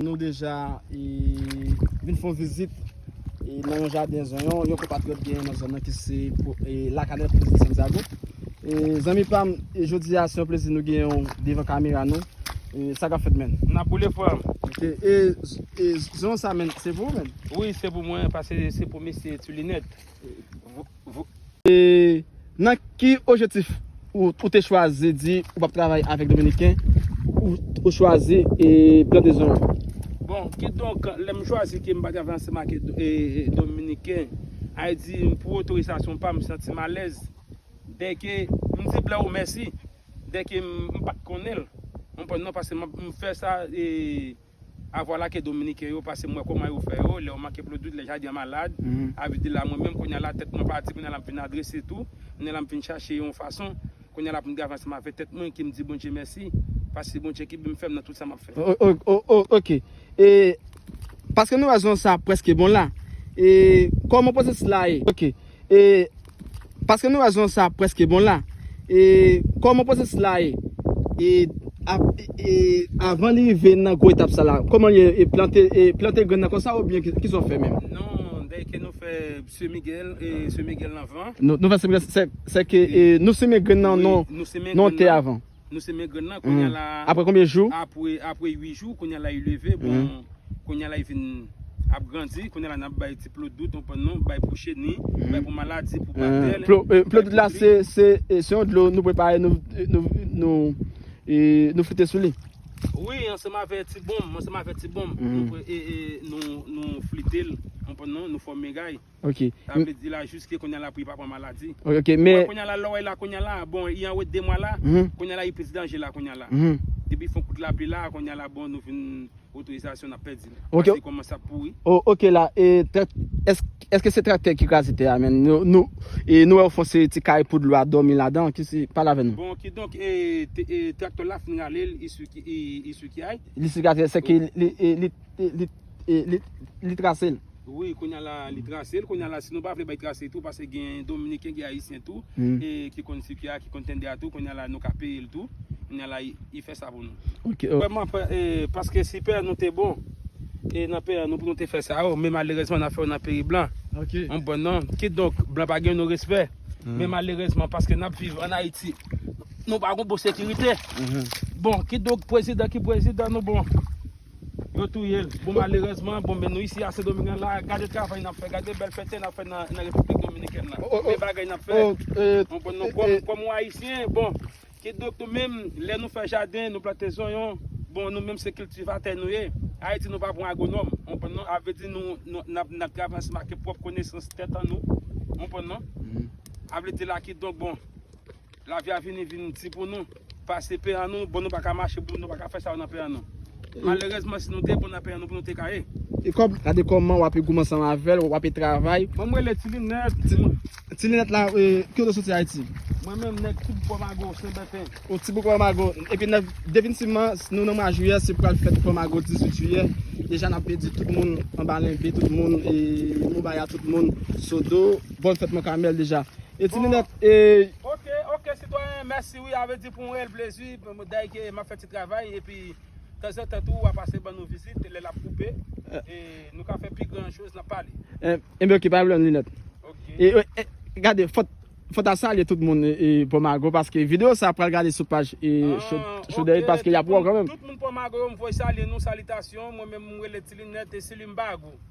Nou deja vin fon vizit nan yon jaden zonyon, yon konpatriyot genyen nan zonyon ki se lakane pou vizit Santiago. Zanmi pam, jodi a se yon plezi nou genyen ou devan kamera nou. Sa kap fèt men? Nap boule frèm. Ok, e zonyon sa men, se pou ou men? Wi, se pou mwen, pase se pou mesye Tulinet. E nan ki ojetif ou te chwazi di ou pap travay avèk Dominiken ou chwazi e pran desizyon an? Bon, ki donk, lè m chwazi ke m pa travay ansanm ak Dominiken, ay di m pou otorizasyon pa m, m santi m alèz. Dèke m di blan ou mèsi, dèke m pat konnen l, ou konprann non, paske m fè sa e. A vwala ke dominiken yo pase m wè koman yo fè yo lè yo manke plodwid lè jaden an malad a vit de la mwen menm kounye a la tèt mwen pa di kounye a la m fin adrese tou kounye a la m fin chache yon fason kounye a la pou m travay ansanm avè tèt mwen ki m di Bondye mèsi paske Bondye ki bim fèm nan tout sa map fè. Ok e paske nou wè zon sa preske bon la e koman pwosesis la ye ok e. Paske nou wè zon sa a prèske bon la. E kòman pwosesis la ye? E ap e avan li rive nan gwo etap sa la, kòman li ye? E plante e plante grenn nan konsa oubyen ki sa ou fè menm? Non, dèy ke nou fè semi gèl e semi gèl nan van. Nou fè semi gèl se seke e nou simen grenn nan nan tè avan? Nou semen grenn nan konya la. Apre konbyen jou? Apre apre 8 jou konya la li leve bon konya la li vin ap grandi konya la nap bay ti plo dout ou konprann non bay pou cheni bay pou maladi pou batèl. Plo plo dout la se se se yon dlo nou prepare nou nou nou e nou frite sou li. Wi ansanm avè ti bonm ansanm avè ti bonm nou e e nou nou frite l ou konprann non nou fòme gay. Ok. Sa vle di la juske kounya la pou li pa pran maladi. Ok men. Ou wè kounya la lè w wè la kounya la bon li anwo 2 mwa la kounya la li plis danje la kounya la. Depi fon kout lapli la kounya la bon nou vin otorizasyon n ap pèdi l. Ok. Paske li kòmanse ap pouri. Oh ok la e èske se traktè ki kraze tè a menm nou e nou wè ou fon seri ti kay pou dlo a dòmi ladan ki si pale avè nou. Bon kidonk e traktè la fin rale l i sou kiyay. Li sou kiyay se ke li li. li trase l. Wi kounya la li trase l kounya la si nou pa vle bay trase tou paske gen dominiken gen ayisyen tou ki konn sik ya ki konn tende ya tou kounya la nou ka peye l tou kounya la li fè sa pou nou vrèman paske si pè nou te bon e nan pè nou pou nou te fè sa yo men malerezman n ap fè yo nan peyi blan ou bon non kidonk blan pa gen nou respè men malerezman paske n ap viv an ayiti nou pa gen bon sekirite bon kidonk prezidan ki prezidan nou bon. Yo touyel bon malerezman bon men nou isi a sendoming nan la gade travay nap fè gade bèl fète nap fè nan repiblik dominikèn nan men bagay nap fè nou bon nou kòm kòm yon ayisyen bon kidonk nou menm lè nou fè jaden nou plante zonyon bon nou menm se kiltivatè nou ye ayiti nou pa pran agwonòm ou konprann non avle di nou nap nap travay ansanm ake pwòp konesans tèt annou ou konprann non avle di la kidonk bon. Lavi a vini vin di pou nou pase pen an nou bon nou paka mache pou nou paka fè sa yo nan pen an nou. Malerezman si nou te bon nan pen an nou pou nou te ka ye. E kòb la de kòman wap e goum ansanm avèl wap e travay. Mwen m rele ti linèt. Ti linèt la e kikote w soti ayiti. Mwen menm nèg ti boukò mago senbèten. Ou ti boukò mago epi nèg definitivman nou nan mwa jiyè se pral fèt boukò mago 18 jiyè deja nap pedi tout moun anba lenbe tout moun e moubaya tout moun sodo. Bòn fèt man kamèl deja. E ti linèt e. Ok ok sitwayen mèsi wi a vle di pou mwen l plezi wi dèy ke map fè ti travay epi tanzantan tou wa pase ban nou vizit lè lap koupe e nou ka fè pi gran choz nan pale. Enben ok pa gen pwoblèm linèt. E gade fòt fòt a salye tout moun e pò mago paske video sa pral gade sou paj e cho dèy paske yap wè w kanmenm. Tout moun pò mago yo m voy salye nou salitasyon mwen menm m rele ti linèt e silim bago.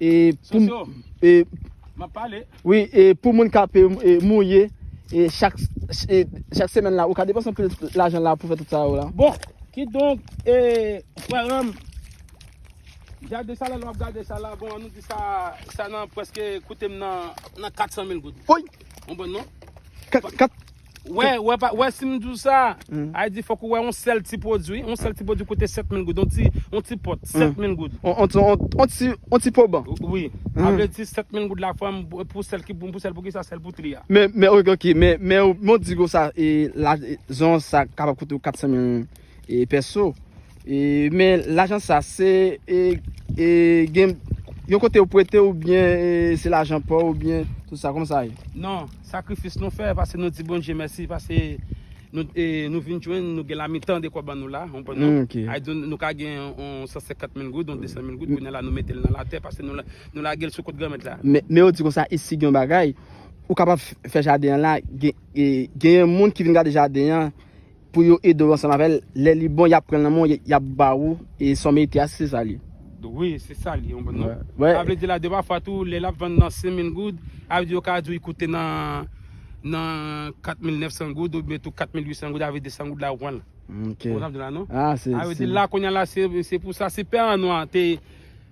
E pou Sosyo, e map pale. Wi, e pou moun kap e mouye e chak e chak semèn la ou ka depanse anpil lajan la pou fè tout sa yo la. Bon, kidonk e frèranm gade sa la lè wap gade sa la, bon an nou di sa sa nan prèske koutem nan nan 400 mil goud. Woy! Ou konprann non? 4 4 Wè, wè pa, wè si m di w sa, Mm. ay di fòk ou wè on sèl ti pwodui, on sèl ti pwodui koute 7000 goud, on ti, on ti pòt, Mm. 7000 goud. On, on, on, on ti, on ti poban. Wi, a vle di 7000 goud la fòm pou sèl ki pou, pou sèl pou ki sa, sèl pou tri a. Men, men, ok, ok, men, men, ou, men w di kon sa, e, la, e, zon sa kapab koute ou 400 mil, E pèso e men lajan sa se e e gen yon kote yo pwete ou byen e se lajan pa ou byen tout sa kòman sa ye? Non, sakrifis nou fè pase nou di Bondye mèsi pase nou e nou vin jwenn nou gen la mitan de kwa ban nou la ou konprann non? Ok. Ay di nou ka gen yon 150 mil goud yon 200 mil goud kounye la nou mete l nan latè pase nou nou lage l sou kont Granmèt la. Men men yo di konsa isi gen yon bagay ou kapab fè jaden an la gen e genyen moun ki vin gade jaden an pou yo edew ansanm avèl lè li bon yap pranl nan menw yap ba ou e sa w merite a si se sa li ye. Wi se sa li yon bon non. Sa vle di la de pa fwa tou lè lap vann nan 5000 goud sa vle di yo ka diw li koute nan nan 4900 goud oubyen tou 4800 goud avè 200 goud la ou pranl. Ou konprann sa m di la non. Sa vle di la kounya la se pou sa si pè an nwa te